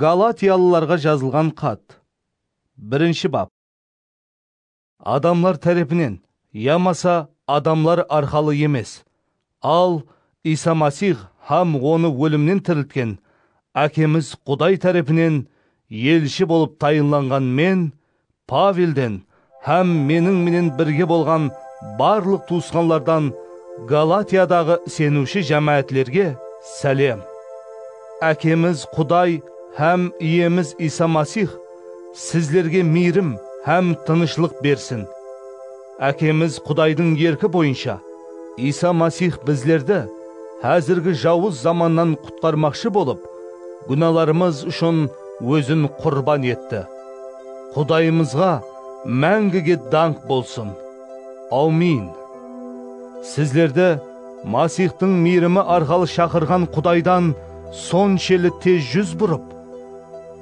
Galatiyalılarǵa jazılǵan xat. Birinshi bap. Adamlar tárepinen yamasa adamlar arqalı emes, al, Iysa Masix hám Onı ólimnen tiriltken Ákemiz Quday tárepinen elshi bolıp tayınlanǵan men Pavelden hám meniń menen birge bolǵan barlıq tuwısqanlardan Galatiyadaǵı iseniwshi jámáátlerge sálem. Ákemiz Quday hám Iyemiz Iysa Masix sizlerge miyrim hám tınıshlıq bersin. Ákemiz Qudaydıń erki boyınsha, Iysa Masix bizlerdi házirgi jawız zamannan qutqarmaqshı bolıp, gúnalarımız ushın Ózin qurban etti. Qudayımızǵa máńgige dańq bolsın! Awmin! Sizlerdi Masixtıń miyrimi arqalı shaqırǵan Qudaydan sonsheli tez júz burıp,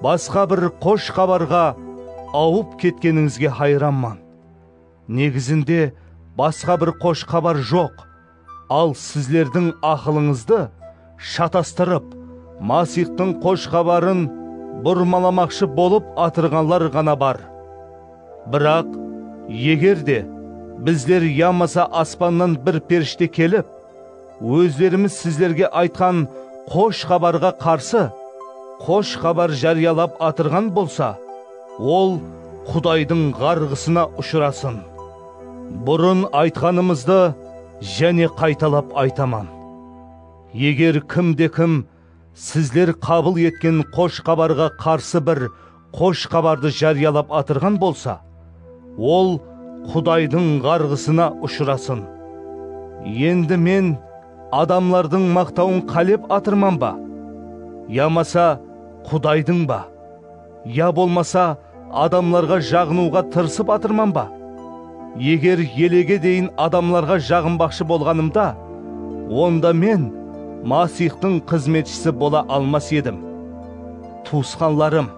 basqa bir Xosh Xabarǵa awıp ketkenińizge hayranman. Negizinde basqa bir Xosh Xabar joq. Al, sizlerdiń aqılıńızdı shatastırıp, Masixtıń Xosh Xabarın burmalamaqshı bolıp atırǵanlar ǵana bar. Biraq, eger de bizler yamasa aspannan bir perishte kelip, ózlerimiz sizlerge aytqan Xosh Xabarǵa qarsı Xosh Xabar járiyalap atırǵan bolsa, ol Qudaydıń ǵarǵısına ushırasın! Burın aytqanımızdı jáne qaytalap aytaman, eger kimde-kim sizler qabıl etken Xosh Xabarǵa qarsı bir Xosh Xabardı járiyalap atırǵan bolsa, ol Qudaydıń ǵarǵısına ushırasın. Endi men adamlardıń maqtawın qálep atırman ba? Yamasa Qudaydıń ba? Ya bolmasa adamlarǵa jaǵınıwǵa tırısıp atırman ba? Eger elege deyin adamlarǵa jaǵınbaqshı bolǵanımda, onda men Masixtıń xızmetshisi bola almas edim. Tuwısqanlarım,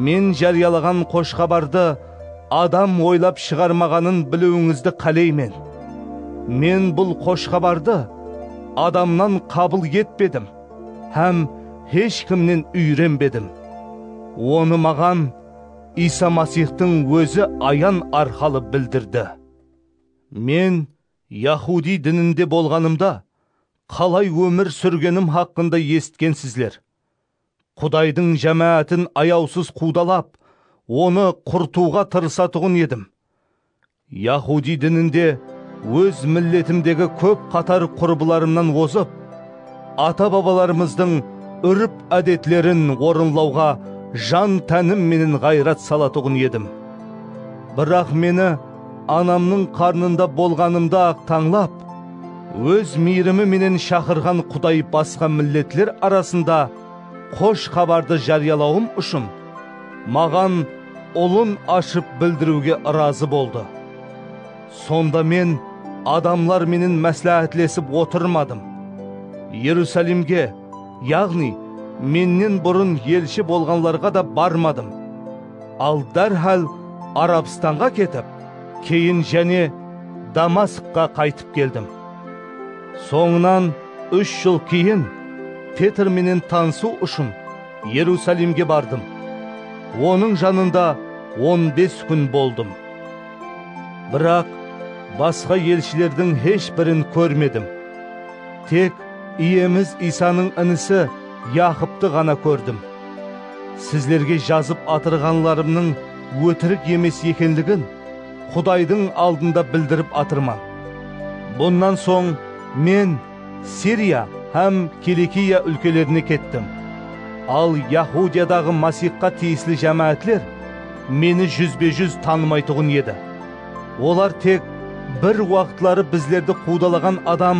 men járiyalaǵan Xosh Xabardı adam oylap shıǵarmaǵanın biliwińizdi qáleymen. Men bul Xosh Xabardı adamnan qabıl etpedim. hám hesh kimnen úyrenbedim. Onı maǵan Iysa Masixtıń Ózi ayan arqalı bildirdi. Men yahudiy dininde bolǵanımda qalay ómir súrgenim haqqında esitkensizler. Qudaydıń jámáátin ayawsız quwdalap, onı qurtıwǵa tırısatuǵın edim. Yahudiy dininde óz milletimdegi kóp qatar qurbılarımnan ozıp, ata-babalarımızdıń úrp-ádetlerin orınlawǵa jan-tánim menen ǵayrat salatuǵın edim. Biraq meni anamnıń qarnında bolǵanımda-aq tańlap, óz miyrimi menen shaqırǵan Quday basqa milletler arasında, Xosh xabardı járiyalawım ushın maǵan ulın ashıp bildiriwge ırazı boldı. Sonda men adamlar menen másláhátlesip otırmadım. Erusalimge, yaǵnıy, mennen burın elshi bolǵanlarǵa da barmadım. Al dárhál Arabstanǵa ketip, keyin jáne Damaskqa qaytıp keldim. Sońınan úsh jıl keyin Petr menen tanısıw ushın Erusalimge bardım. Onıń janında on bes kún boldım. Biraq basqa elshilerdiń hesh birin kórmedim. Tek Iyemiz Iysanıń inisi Yaqıptı ǵana kórdim. Sizlerge jazıp atırǵanlarımnıń ótirik emes ekenligin, Qudaydıń aldında bildirip atırman. Bunnan soń men Siriya hám Kilikiya úlkelerine kettim. Al Yahudiyadaǵı Masixqa tiyisli jámáátler meni júzbe-júz tanımaytuǵın edi. Olar tek bir waqıtları bizlerdi quwdalaǵan adam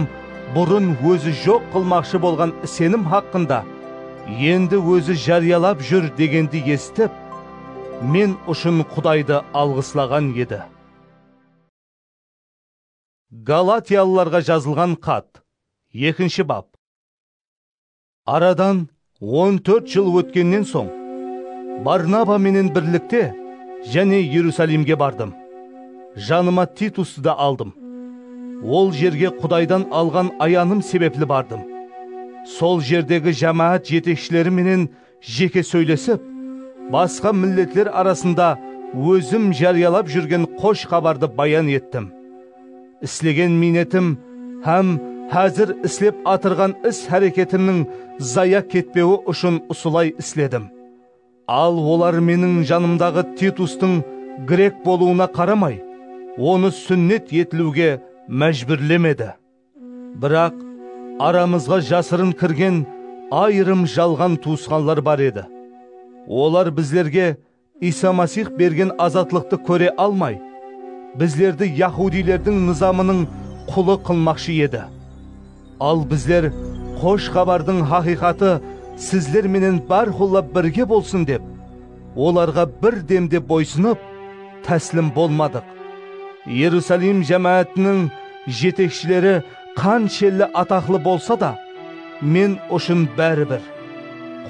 burın ózi joq qılmaqshı bolǵan isenim haqqında endi ózi járiyalap júr degendi esitip, Men ushın Qudaydı alǵıslaǵan edi. Galatiyalılarǵa jazılǵan xat, ekinshi bap. Aradan on tórt jıl ótkennen soń, Barnaba menen birlikte jáne Erusalimge bardım. Janıma Titustı da aldım. Ol jerge Qudaydan alǵan ayanım sebepli bardım. Sol jerdegi jámáát jetekshileri menen Jeke sóylesip, basqa milletler arasında ózim járiyalap júrgen xosh xabardı bayan ettim. Islegen miynetim hám házir islep atırǵan is-háreketimniń zaya ketpewi ushın usılay isledim. Al olar meniń janımdaǵı Titustıń grek bolıwına qaramay, onı súnnet etiliwge májbúrlemedi. Biraq, aramızǵa jasırın kirgen ayırım jalǵan tuwısqanlar bar edi. Olar bizlerge Iysa Masix bergen azatlıqtı kóre almay, bizlerdi yahudilerdiń nızamınıń qulı qılmaqshı edi. Al bizler Xosh Xabardıń haqıyqatı sizler menen bárqulla birge bolsın dep, Olarǵa bir dem de boysınıp, táslim bolmadıq. Erusalim jámáátiniń jetekshileri qanshelli ataqlı bolsa da, Men ushın bári bir.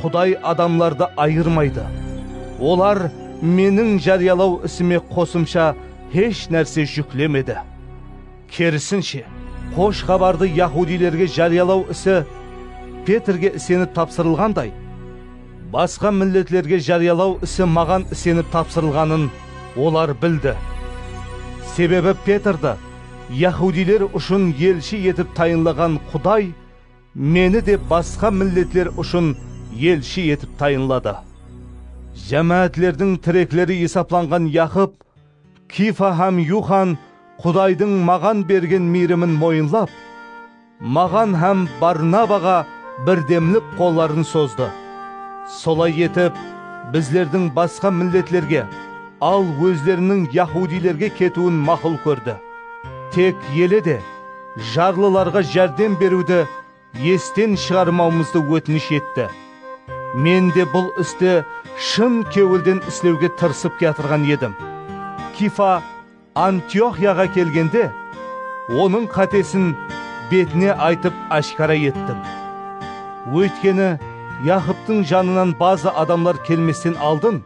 Quday adamlardı ayırmaydı. Olar Meniń járiyalaw isime qosımsha hesh nárse júklemedi. Kerisinshe, Xosh Xabardı yahudiylerge járiyalaw isi Petrge isenip tapsırılǵanday, basqa milletlerge járiyalaw isi maǵan isenip tapsırılǵanın olar bildi. Sebebi Petrdi yahudiyler ushın elshi etip tayınlaǵan Quday meni de basqa milletler ushın elshi etip tayınladı. Jámáátlerdiń tirekleri esaplanǵan Yaqıp, Kiyfa hám Yuxan Qudaydıń maǵan bergen miyrimin moyınlap, maǵan hám Barnabaǵa birdemlik qolların sozdı. Solay etip, bizlerdiń basqa milletlerge, al ózleriniń yahudiylerge ketiwin maqul kórdi. Tek ele de, jarlılarǵa járdem beriwdi esten shıǵarmawımızdı ótinish etti. Men de bul isti shın kewilden islewge tırısıp kiyatırǵan edim. Kifa Antioxiyaǵa kelgende, onıń qátesin betine aytıp áshkara ettim. Óytkeni, Yaqıptıń janınan bazı adamlar kelmesten aldın,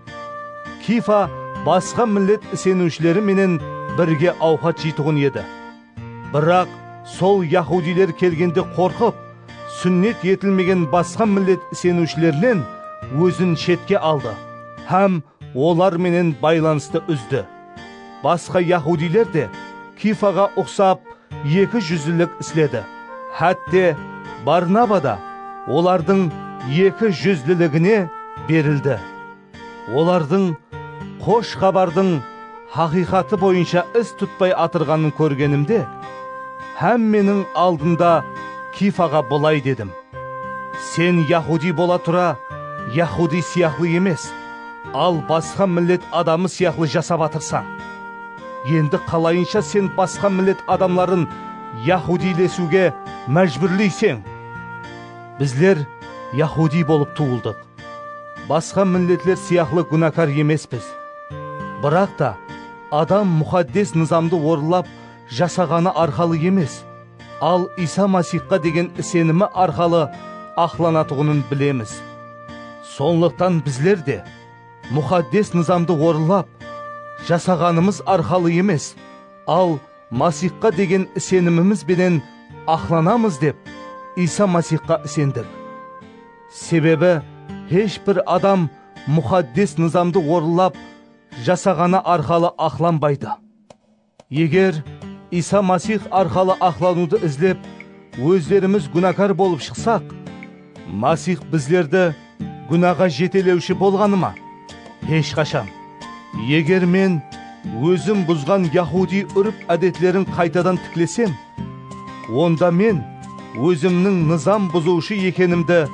Kifa basqa millet iseniwshileri menen birge awqat jeytuǵın edi. Biraq, sol yahudiyler kelgende qorqıp, súnnet etilmegen basqa millet iseniwshilerinen ózin shetke aldı hám olar menen baylanıstı úzdi. Basqa yahudiyler de Kiyfaǵa uqsap eki júzlilik isledi, hátte, Barnaba da olardıń eki júzliligine berildi. Olardıń Xosh Xabardıń haqıyqatı boyınsha is tutpay atırǵanın kórgenimde, hámmeniń aldında Kiyfaǵa bılay dedim, Sen yahudiy bola tura, yahudiy sıyaqlı emes, al basqa millet adamı sıyaqlı jasap atırsań. Endi qalayınsha sen basqa millet adamların yahudiylesiwge májbúrleyseń? Bizler yahudiy bolıp tuwıldıq. Basqa milletler sıyaqlı gúnakar emespiz. Biraq ta, adam muxaddes nızamdı orınlap jasaǵanı arqalı emes, al Iysa Masixqa degen isenimi arqalı aqlanatuǵının bilemiz. Sonlıqtan bizler de muxaddes nızamdı orınlap jasaǵanımız arqalı emes, al Masixqa degen isenimimiz benen aqlanamız dep Iysa Masixqa isendik. Sebebi hesh bir adam muxaddes nızamdı orınlap jasaǵanı arqalı aqlanbaydı. Eger Iysa Masix arqalı aqlanıwdı izlep, ózlerimiz gúnakar bolıp shıqsaq, Masix bizlerdi gúnaǵa jetelewshi bolǵanı ma? Hesh qashan! Eger men ózim buzǵan yahudiy úrp-ádetlerin qaytadan tiklesem, Onda men ózimniń nızam buzıwshı ekenimdi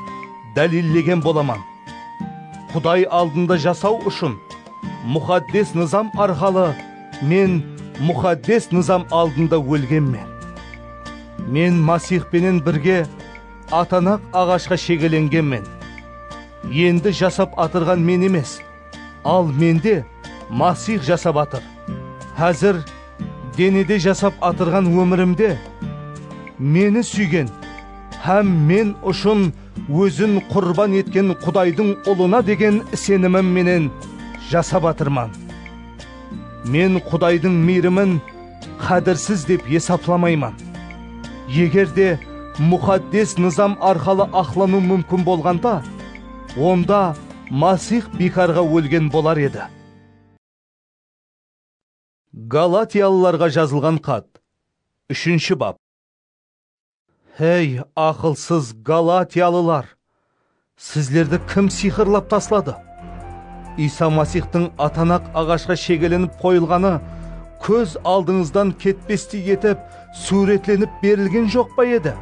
dálillegen bolaman. Quday aldında jasaw ushın Muxaddes Nızam arqalı men Muxaddes Nızam aldında ólgenmen. Men Masix penen birge atanaq aǵashqa shegelengenmen. Endi jasap atırǵan men emes, Al mende Masix jasap atır. Házir denede jasap atırǵan ómirimde Meni súygen hám men ushın Ózin qurban etken Qudaydıń Ulına degen isenimim menen jasap atırman. Men Qudaydıń miyrimin, Qádirsiz dep esaplamayman. Eger de muxaddes nızam arqalı aqlanıw múmkin bolǵanda, onda Masix biykarǵa ólgen bolar edi. Galatiyalılarǵa jazılǵan xat, úshinshi bap. Hey, aqılsız galatiyalılar! Sizlerdi kim sıyqırlap tasladı? Iysa Masixtıń atanaq aǵashqa shegelenip qoyılǵanı kóz aldıńızdan ketpestey etip súwretlenip berilgen joq pa edi?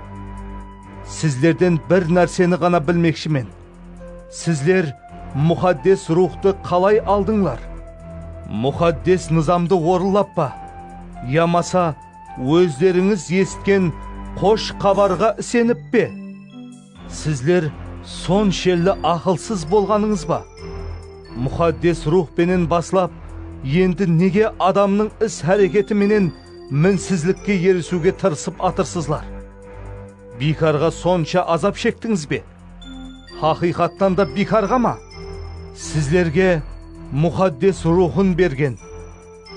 Sizlerden bir nárseni ǵana bilmekshimen, sizler Muxaddes Ruwxtı qalay aldıńlar? Muxaddes nızamdı orınlap pa yamasa Ózlerińiz esitken qosh xabarǵa isenip pe? Sizler sonshelli aqılsız bolǵanıńız ba? Muxaddes Ruwx penen baslap, endi nege adamnıń is-háreketi menen minsizlikke erisiwge tırısıp atırsızlar? Biykarǵa sonsha azap shektińiz be? Haqıyqattan da biykarǵa ma? Sizlerge Muxaddes Ruwxın bergen.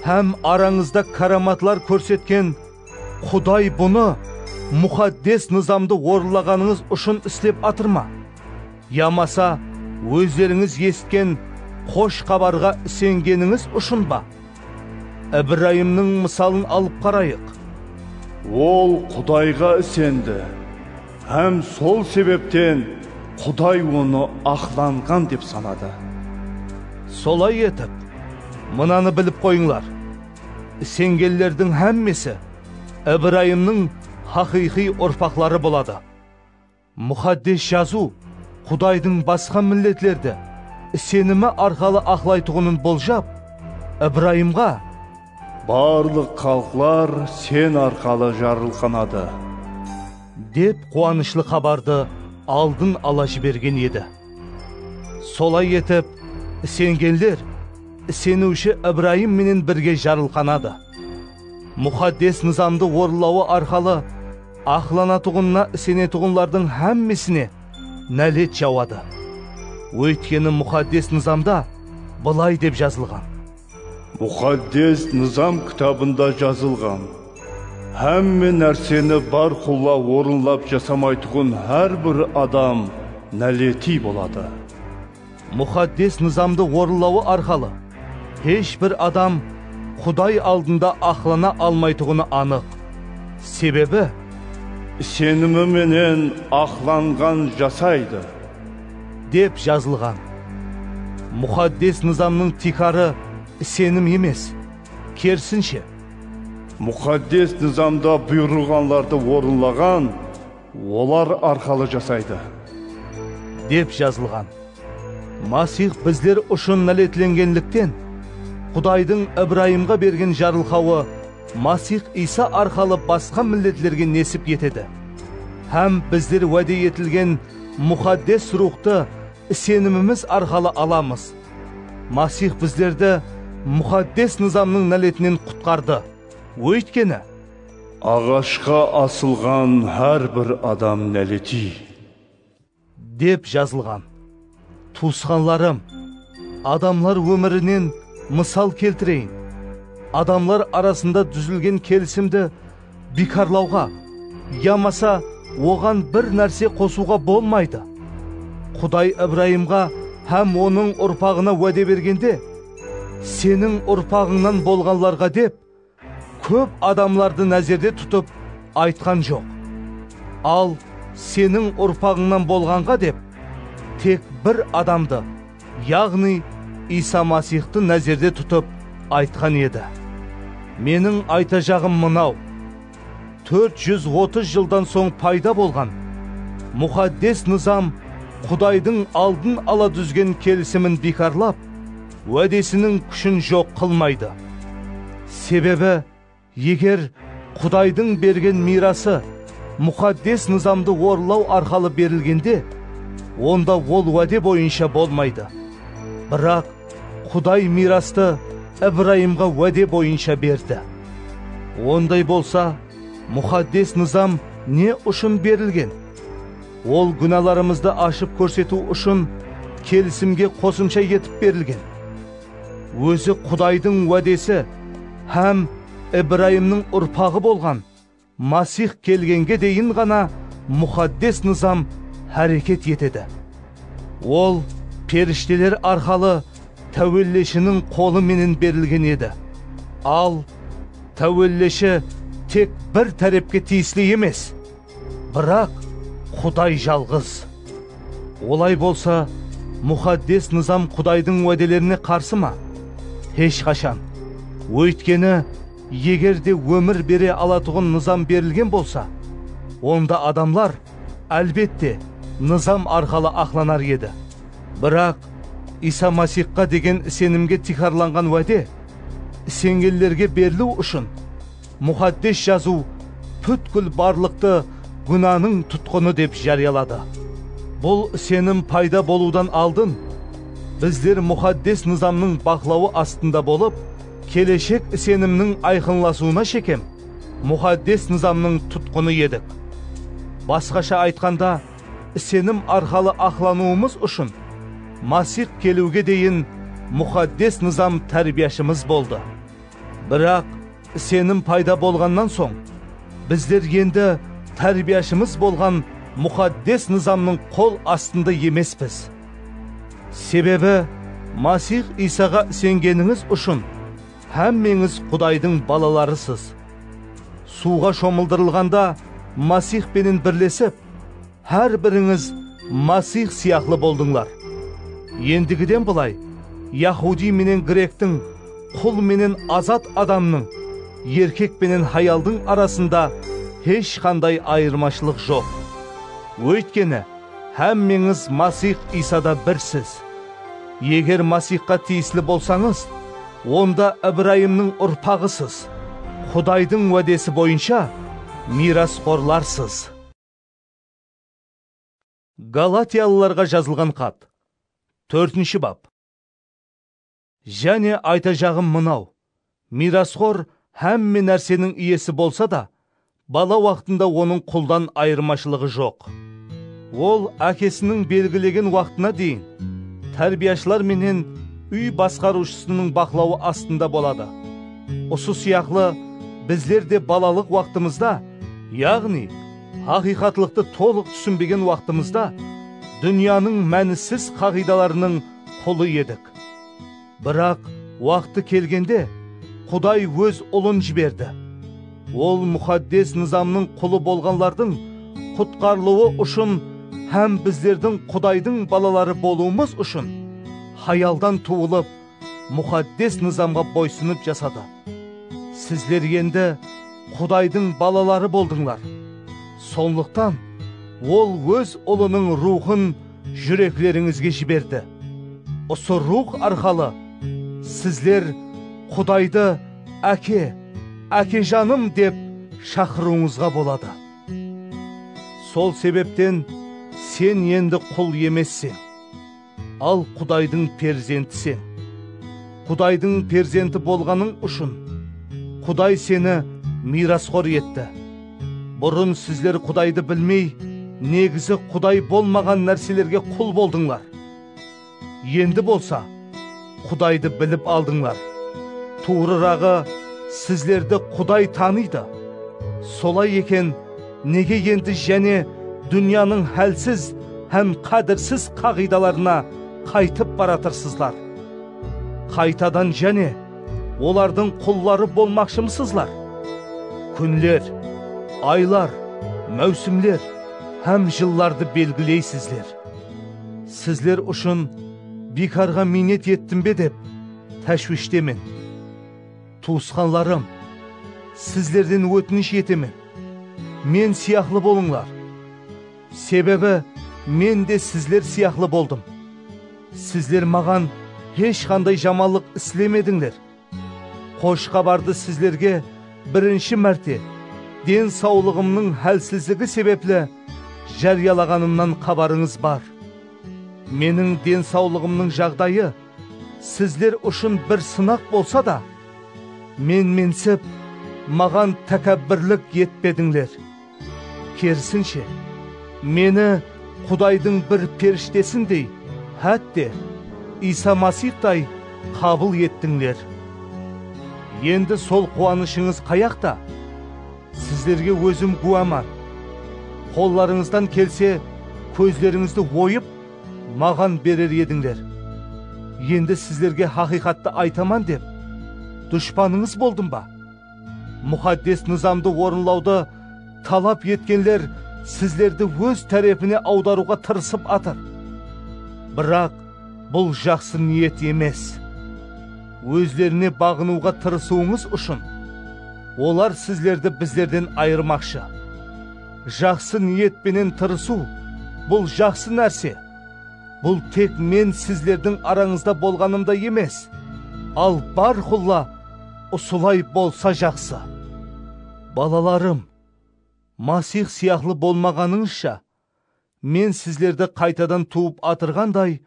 Hám arańızda káramatlar kórsetken Quday bunı muxaddes nızamdı orınlaǵanıńız ushın islep atır ma? Yamasa ózlerińiz esitken Xosh Xabarǵa isengenińiz ushın ba? Ibrayımnıń mısalın alıp qarayıq. Ol Qudayǵa isendi. Hám sol sebepten Quday onı aqlanǵan dep sanadı. Solay etip, mınanı bilip qoyıńlar, Isengenlerdiń hámmesi Ibrayımnıń haqıyqıy urpaqları boladı. Muxaddes Jazıw Qudaydıń basqa milletlerdi isenimi arqalı aqlaytuǵının boljap, Ibrayımǵa, Barlıq xalıqlar Sen arqalı jarılqanadı. Dep quwanıshlı xabardı aldın ala jibergen edi. Solay etip, isengenler iseniwshi Ibrayım menen birge jarılqanadı. Muxaddes Nızamdı orınlawı arqalı aqlanatuǵınına isenetuǵınlardıń hámmesine nálet jawadı. Óytkeni Muxaddes Nızamda bılay dep jazılǵan. Muxaddes Nızam kitabında jazılǵan, Hámme nárseni bárqulla orınlap jasamaytuǵın hár bir adam náletiy boladı. Muxaddes Nızamdı orınlawı arqalı hesh bir adam Quday aldında aqlana almaytuǵını anıq. Sebebi. Isenimi menen aqlanǵan jasaydı. Dep jazılǵan. Muxaddes nızamnıń tiykarı isenim emes, kerisinshe. Muxaddes nızamda buyırılǵanlardı orınlaǵan, olar arqalı jasaydı. Dep jazılǵan. Masix bizler ushın náletlengenlikten, Qudaydıń Ibrayımǵa bergen jarılqawı Masix Iysa arqalı basqa milletlerge nesip etedi hám bizler wáde etilgen Muxaddes Ruwxtı isenimimiz arqalı alamız. Masix bizlerdi Muxaddes Nızamnıń náletinen qutqardı. Óytkeni. Aǵashqa asılǵan hár bir adam náletiy. Dep jazılǵan. Tuwısqanlarım, adamlar ómirinen mısal keltireyin, adamlar arasında dúzilgen kelisimdi biykarlawǵa yamasa oǵan bir nárse qosıwǵa bolmaydı. Quday Ibrayımǵa hám onıń urpaǵına wáde bergende, Seniń urpaǵıńnan bolǵanlarǵa dep, Kóp adamlardı názerde tutıp aytqan joq, al seniń urpaǵıńnan bolǵanǵa dep tek bir adamdı, yaǵnıy Iysa Masixtı názerde tutıp aytqan edi. Meniń aytajaǵım mınaw, tórt júz otız jıldan soń payda bolǵan Muxaddes Nızam Qudaydıń aldın ala dúzgen kelisimin biykarlap, Wádesiniń kúshin joq qılmaydı. Sebebi, eger Qudaydıń bergen miyrası muxaddes nızamdı orınlaw arqalı berilgende, onda ol wáde boyınsha bolmaydı. Biraq Quday miyrastı Ibrayımǵa wáde boyınsha berdi. Onday bolsa, muxaddes nızam ne ushın berilgen? Ol gúnalarımızdı ashıp kórsetiw ushın kelisimge qosımsha etip berilgen. Ózi Qudaydıń wádesi hám Ibrayımnıń urpaǵı bolǵan Masix kelgenge deyin ǵana Muxaddes Nızam háreket etedi. Ol perishteler arqalı Táwelleshiniń qolı menen berilgen edi. Al, Táwelleshi tek bir tárepke tiyisli emes. Biraq Quday jalǵız. Olay bolsa, Muxaddes Nızam Qudaydıń wádelerine qarsı ma? Hesh qashan! Óytkeni, eger de ómir bere alatuǵın nızam berilgen bolsa, onda adamlar, álbette, nızam arqalı aqlanar edi. Biraq Iysa Masixqa degen isenimge tiykarlanǵan wáde isengenlerge beriliw ushın Muxaddes Jazıw pútkil barlıqtı gúnanıń tutqını dep járiyaladı. Bul isenim payda bolıwdan aldın, bizler Muxaddes Nızamnıń baqlawı astında bolıp, keleshek isenimniń ayqınlasıwına shekem Muxaddes Nızamnıń tutqını edik. Basqasha aytqanda, isenim arqalı aqlanıwımız ushın Masix keliwge deyin Muxaddes Nızam tárbiyashımız boldı. Biraq, isenim payda bolǵannan soń, bizler endi tárbiyashımız bolǵan Muxaddes Nızamnıń qol astında emespiz. Sebebi, Masix Iysaǵa isengenińiz ushın hámmeńiz Qudaydıń balalarısız. Suwǵa shomıldırılǵanda Masix penen birlesip. Hár birińiz Masix sıyaqlı boldıńlar. Endigiden bılay, yahudiy menen grektiń, qul menen azat adamnıń, erkek penen hayaldıń arasında hesh qanday ayırmashılıq joq. Óytkeni, hámmeńiz Masix Iysada birsiz. Eger Masixqa tiyisli bolsańız, onda Ibrayımnıń urpaǵısız, Qudaydıń wádesi boyınsha miyrasxorlarsız. Galatiyalılarǵa jazılǵan xat, tórtinshi bap. Jáne aytajaǵım mınaw, miyrasxor hámme nárseniń iyesi bolsa da, bala waqtında onıń quldan ayırmashılıǵı joq. Ol ákesiniń belgilegen waqtına deyin tárbiyashılar menen úy basqarıwshısınıń baqlawı astında boladı. Usı sıyaqlı, bizler de balalıq waqtımızda, yaǵnıy, haqıyqatlıqtı tolıq túsinbegen waqtımızda, dúnyanıń mánisiz qaǵıydalarınıń qulı edik. Biraq, waqtı kelgende, Quday Óz Ulın jiberdi. Ol muxaddes nızamnıń qulı bolǵanlardıń qutqarılıwı ushın hám bizlerdiń Qudaydıń balaları bolıwımız ushın hayaldan tuwılıp, Muxaddes Nızamǵa boysınıp jasadı. Sizler endi Qudaydıń balaları boldıńlar. Sonlıqtan Ol Óz Ulınıń Ruwxın júreklerińizge jiberdi. Usı Ruwx arqalı sizler Qudaydı Áke, Ákejanım dep shaqırıwıńızǵa boladı. Sol sebepten sen endi qul emesseń. Al Qudaydıń perzenti sen. Qudaydıń perzenti bolǵanıń ushın, Quday seni miyrasxor etti. Burın sizler Qudaydı bilmey, negizi Quday bolmaǵan nárselerge qul boldıńlar. Endi bolsa, Qudaydı bilip aldıńlar. Tuwrıraǵı, sizlerdi Quday tanıydı. Solay eken, nege endi jáne dúnyanıń hálsiz hám qádirsiz qaǵıydalarına qaytıp baratırsızlar? Qaytadan jáne olardıń qulları bolmaqshımısızlar? Kúnler, aylar, máwsimler hám jıllardı belgileysizler. Sizler ushın. Biykarǵa miynet ettim be dep táshwishtemen. Tuwısqanlarım, sizlerden ótinish etemen, men sıyaqlı bolıńlar. Sebebi men de sizler sıyaqlı boldım. Sizler maǵan hesh qanday jamanlıq islemedińler. Xosh xabardı sizlerge birinshi márte den sawlıǵımnıń hálsizligi sebepli járiyalaǵanımnan xabarıńız bar. Meniń den sawlıǵımnıń jaǵdayı sizler ushın bir sınaq bolsa da, menmensip, maǵan tákábbirlik etpedińler. Kerisinshe, meni Qudaydıń bir perishtesindey, hátte, Iysa Masixtay qabıl ettińler. Endi sol quwanıshıńız qayaqta? Sizlerge ózim gúwaman. Qollarıńızdan kelse, kózlerińizdi oyıp, maǵan berer edińler. Endi sizlerge haqıyqattı aytaman dep, dushpanıńız boldım ba? Muxaddes nızamdı orınlawdı talap etkenler sizlerdi óz tárepine awdarıwǵa tırısıp atır. Biraq bul jaqsı niyet emes. Ózlerine baǵınıwǵa tırısıwıńız ushın, olar sizlerdi bizlerden ayırmaqshı. Jaqsı niyet penen tırısıw, bul jaqsı nárse. Bul tek men sizlerdiń arańızda bolǵanımda emes, al bárqulla, Usılay bolsa jaqsı. Balalarım, Masix sıyaqlı bolmaǵanıńızsha, men sizlerdi qaytadan tuwıp atırǵanday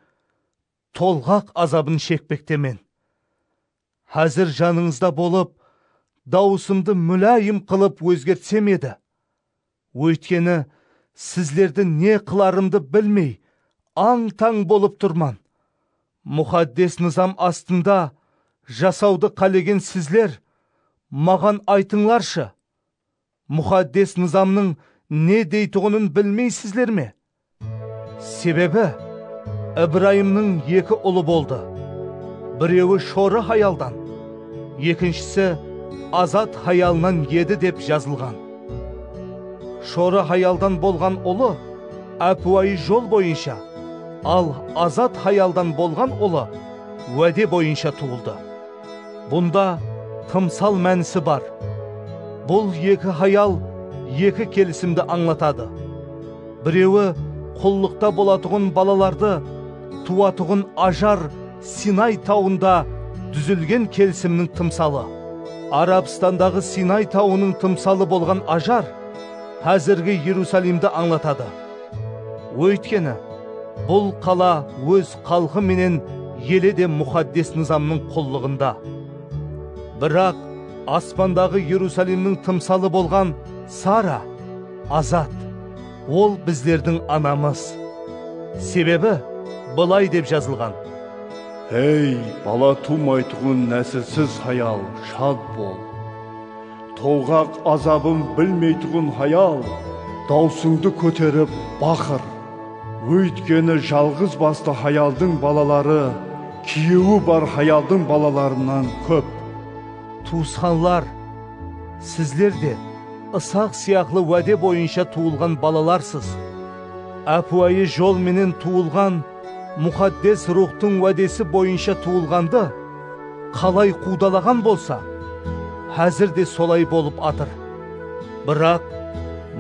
tolǵaq azabın shekpektemen. Házir janıńızda bolıp, dawısımdı múláyim qılıp ózgertsem edi, Óytkeni, sizlerdi ne qılarımdı bilmey, ań-tań bolıp turman. Muxaddes Nızam astında jasawdı qálegen sizler, maǵan aytıńlarshı, Muxaddes Nızamnıń ne deytuǵının bilmeysizler me? Sebebi, Ibrayımnıń eki ulı boldı, birewi shorı hayaldan, ekinshisi azat hayalınan edi dep jazılǵan. Shorı hayaldan bolǵan ulı ápiwayı jol boyınsha, al azat hayaldan bolǵan ulı wáde boyınsha tuwıldı. Bunda tımsal mánisi bar. Bul eki hayal eki kelisimdi ańlatadı. Birewi qullıqta bolatuǵın balalardı tuwatuǵın Ajar Sinay tawında dúzilgen kelisimniń tımsalı. Arabstandaǵı Sinay tawınıń tımsalı bolǵan Ajar házirgi Erusalimdi ańlatadı. Óytkeni, bul qala óz xalqı menen eli de Muxaddes Nızamnıń qullıǵında. Biraq aspandaǵı Erusalimniń tımsalı bolǵan Sara azat, ol bizlerdiń anamız. Sebebi bılay dep jazılǵan. Ey, bala tuwmaytuǵın násilsiz hayal, shad bol! Tolǵaq azabın bilmeytuǵın hayal, dawsıńdı kóterip baqır. Óytkeni jalǵız bastı hayaldıń balaları kúyewi bar hayaldıń balalarınan kóp. Tuwısqanlar, sizler de Isaq sıyaqlı wáde boyınsha tuwılǵan balalarsız. Ápiwayı jol menen tuwılǵan. Muxaddes Ruwxtıń wádesi boyınsha tuwılǵandı qalay quwdalaǵan bolsa, házir de solay bolıp atır. Biraq,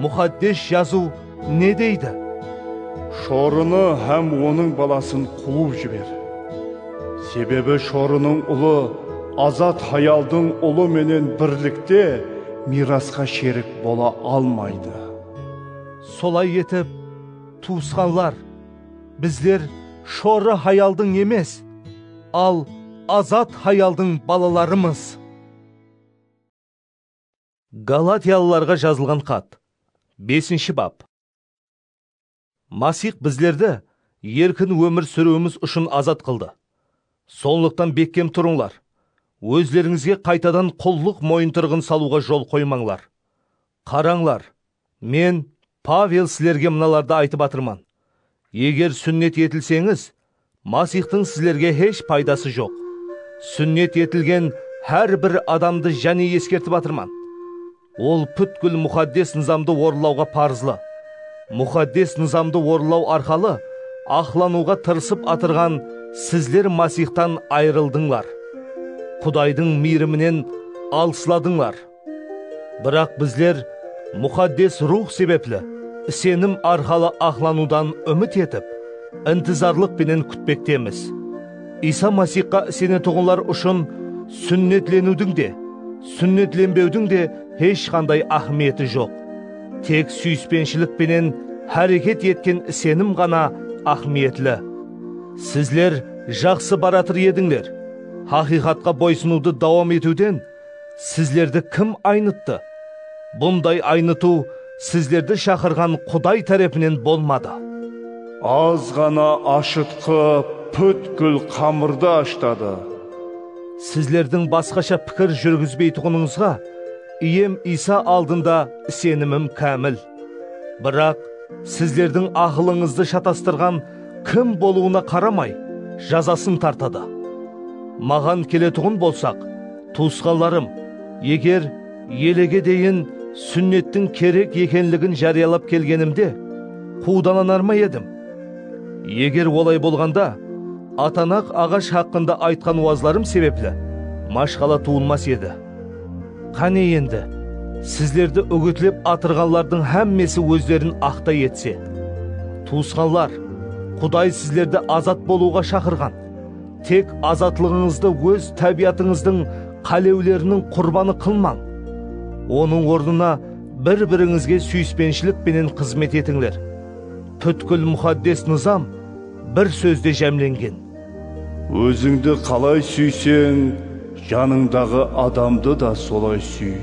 Muxaddes Jazıw ne deydi? Shorını hám onıń balasın quwıp jiber. Sebebi shorınıń ulı azat hayaldıń ulı menen birlikte miyrasqa sherik bola almaydı. Solay etip, tuwısqanlar! Bizler shorı hayaldıń emes, al azat hayaldıń balalarımız. Galatiyalılarǵa jazılǵan xat, besinshi bap. Masix bizlerdi erkin ómir súriwimiz ushın azat qıldı. Sonlıqtan bekkem turıńlar, ózlerińizge qaytadan qullıq moyıntırıǵın salıwǵa jol qoymańlar. Qarańlar, Men, Pavel, sizlerge mınalardı aytıp atırman, Eger súnnet etilseńiz, Masixtıń sizlerge hesh paydası joq. Súnnet etilgen hár bir adamdı jáne eskertip atırman, ol pútkil Muxaddes Nızamdı orınlawǵa parızlı. Muxaddes Nızamdı orınlaw arqalı aqlanıwǵa tırısıp atırǵan sizler Masixtan ayırıldıńlar, Qudaydıń miyriminen alısladınlar. Biraq bizler Muxaddes Ruwx sebepli isenim arqalı aqlanıwdan úmit etip, intizarlıq penen kútpektemiz. Iysa Masixqa isenetuǵınlar ushın súnnetleniwdiń de, súnnetlenbewdiń de hesh qanday áhmiyeti joq. Tek súyispenshilik penen háreket etken isenim ǵana áhmiyetli. Sizler jaqsı baratır edińler, haqıyqatqa boysınıwdı dawam etiwden Sizlerdi kim aynıttı? Bunday aynıtıw sizlerdi shaqırǵan Quday tárepinen bolmadı. Az ǵana ashıtqı pútkil qamırdı ashtadı. Sizlerdiń basqasha pikir júrgizbeytuǵınıńızǵa Iyem Iysa aldında isenimim kámil. Biraq, sizlerdiń aqılıńızdı shatastırǵan Kim bolıwına qaramay, jazasın tartadı. Maǵan keletuǵın bolsaq, tuwısqanlarım, eger elege deyin súnnettiń kerek ekenligin járiyalap kelgenimde, quwdalanar ma edim? Eger olay bolǵanda, atanaq aǵash haqqında aytqan wazlarım sebepli mashqala tuwılmas edi. Qáne endi, sizlerdi úgitlep atırǵanlardıń hámmesi ózlerin aqtay etse! Tuwısqanlar, Quday sizlerdi azat bolıwǵa shaqırǵan, tek azatlıǵıńızdı óz tábiyatıńızdıń qálewleriniń qurbanı qılmań. Onıń ornına bir-birińizge súyispenshilik penen xızmet etińler. Pútkil Muxaddes Nızam bir sózde jámlengen. Ózińdi qalay súyseń, janıńdaǵı adamdı da solay súy.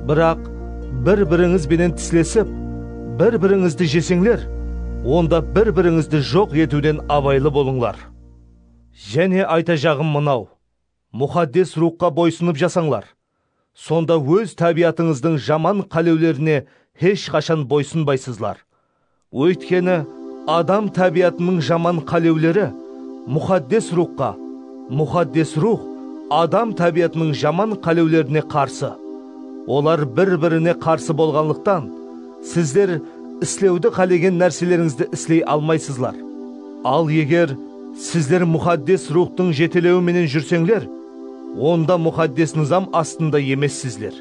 Biraq bir-birińiz benen tislesip, bir-birińizdi jeseńler, onda bir-birińizdi joq etiwden abaylı bolıńlar. Jáne aytajaǵım mınaw, Muxaddes Ruwxqa boysınıp jasańlar. Sonda óz tábiyatıńızdıń jaman qálewlerine hesh qashan boysınbaysızlar. Óytkeni, adam tábiyatınıń jaman qálewleri Muxaddes Ruwxqa, Muxaddes Ruwx adam tábiyatınıń jaman qálewlerine qarsı. Olar bir-birine qarsı bolǵanlıqtan, sizler islewdi qálegen nárselerińizdi isley almaysızlar. Al eger sizler Muxaddes Ruwxtıń jetelewi menen júrseńler, Onda Muxaddes Nızam astında emessizler.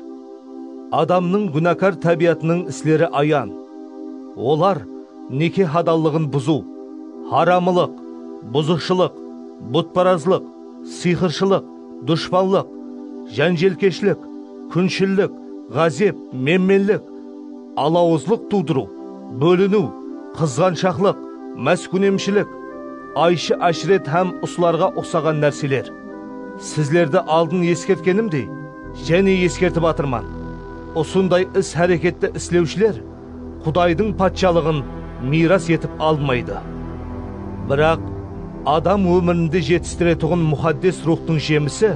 Adamnıń gúnakar tábiyatınıń isleri ayan. Olar, neke hadallıǵın buzıw, haramılıq, buzıqshılıq, butparazlıq, sıyqırshılıq, dushpanlıq, jánjelkeshlik, kúnshillik, ǵázep, menmenlik, alawızlıq tuwdırıw, bóliniw, qızǵanshaqlıq, máskunemshilik, ayshı-ashret hám usılarǵa uqsaǵan nárseler. Sizlerdi aldın eskertkenimdey, jáne eskertip atırman, usınday is-háreketti islewshiler Qudaydıń Patshalıǵın miyras etip almaydı. Biraq, adam ómirinde jetistiretuǵın Muxaddes Ruwxtıń jemisi,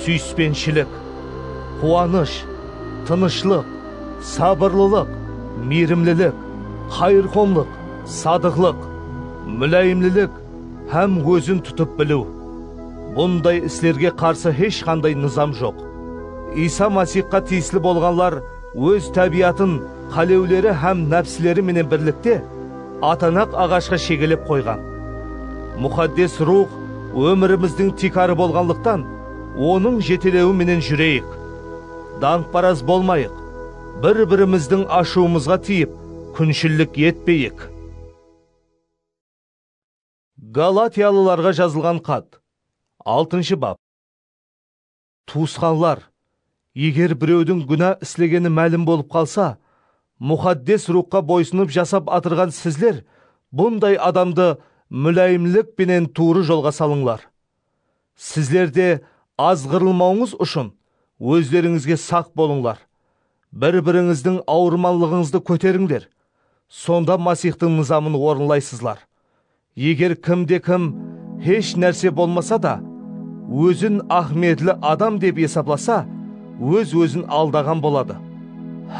súyispenshilik, quwanısh, tınıshlıq, sabırlılıq, miyrimlilik, qayırqomlıq, sadıqlıq, múláyimlilik hám ózin tutıp biliw. Bunday islerge qarsı hesh qanday nızam joq. Iysa Masixqa tiyisli bolǵanlar óz tábiyatın qálewleri hám nápsileri menen birlikte atanaq aǵashqa shegelep qoyǵan. Muxaddes Ruwx ómirimizdiń tiykarı bolǵanlıqtan, Onıń jetelewi menen júreyik. Dańqparaz bolmayıq, bir-birimizdiń ashıwımızǵa tiyip, kúnshillik etpeyik. Galatiyalılarǵa jazılǵan xat, altınshı bap. Tuwısqanlar, eger birewdiń gúna islegeni málim bolıp qalsa, Muxaddes Ruwxqa boysınıp jasap atırǵan sizler bunday adamdı múláyimlik penen tuwrı jolǵa salıńlar. Sizler de azǵırılmawıńız ushın ózlerińizge saq bolıńlar. Bir-birińizdiń awırmanlıǵıńızdı kóterińler, sonda Masixtıń nızamın orınlaysızlar. Eger kimde-kim hesh nárse bolmasa da, ózin áhmiyetli adam dep esaplasa, óz-ózin aldaǵan boladı.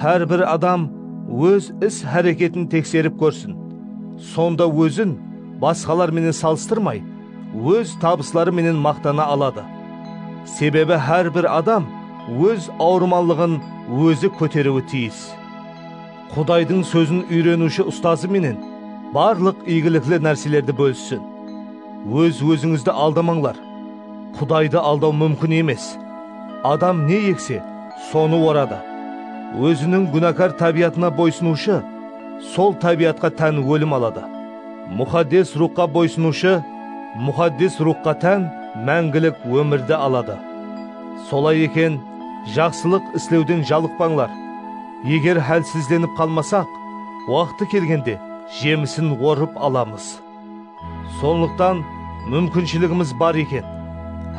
Hár bir adam óz is-háreketin tekserip kórsin, sonda ózin basqalar menen salıstırmay, óz tabısları menen maqtana aladı. Sebebi hár bir adam óz awırmanlıǵın ózi kóteriwi tiyis. Qudaydıń sózin úyreniwshi ustazı menen barlıq iygilikli nárselerdi bólissin. Óz-ózińizdi aldamańlar. Qudaydı aldaw múmkin emes. Adam ne ekse, sonı oradı. Óziniń gúnakar tábiyatına boysınıwshı sol tábiyatqa tán ólim aladı. Muxaddes Ruwxqa boysınıwshı Muxaddes Ruwxqa tán máńgilik ómirdi aladı. Solay eken, jaqsılıq islewden jalıqpańlar. Eger hálsizlenip qalmasaq, waqtı kelgende jemisin orıp alamız. Sonlıqtan múmkinshiligimiz bar eken,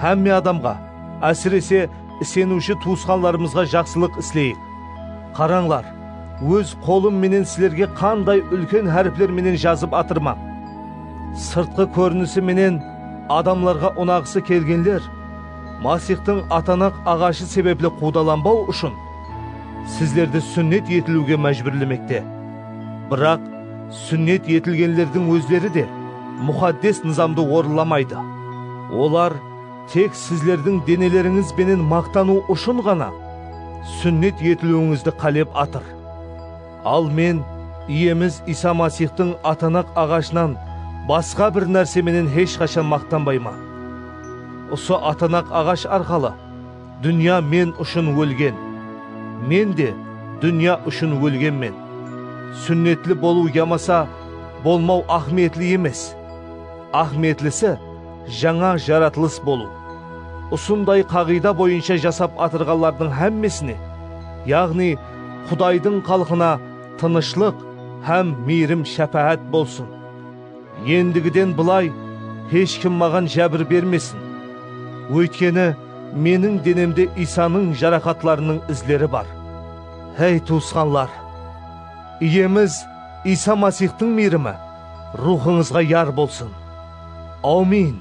hámme adamǵa, ásirese, iseniwshi tuwısqanlarımızǵa jaqsılıq isleyik. Qarańlar, Óz qolım menen sizlerge qanday úlken háripler menen jazıp atırman. Sırtqı kórinisi menen adamlarǵa unaǵısı kelgenler Masixtıń atanaq aǵashı sebepli quwdalanbaw ushın, sizlerdi súnnet etiliwge májbúrlemekte. Biraq súnnet etilgenlerdiń ózleri de muxaddes nızamdı orınlamaydı. Olar. Tek sizlerdiń denelerińiz benen maqtanıw ushın ǵana súnnet etiliwińizdi qálep atır. Al men Iyemiz Iysa Masixtıń atanaq aǵashınan basqa bir nárse menen hesh qashan maqtanbayman. Usı atanaq aǵash arqalı dúnya men ushın ólgen, men de dúnya ushın ólgenmen. Súnnetli bolıw yamasa bolmaw áhmiyetli emes. Áhmiyetlisi, Jańa jaratılıs bolıw. Usınday qaǵıyda boyınsha jasap atırǵanlardıń hámmesine, yaǵnıy Qudaydıń xalqına tınıshlıq hám miyrim-shápáát bolsın. Endigiden bılay hesh kim maǵan jábir bermesin. Óytkeni, meniń denemde Iysanıń jaraqatlarınıń izleri bar. Hey tuwısqanlar! Iyemiz Iysa Masixtıń miyrimi ruwxıńızǵa yar bolsın! Awmin!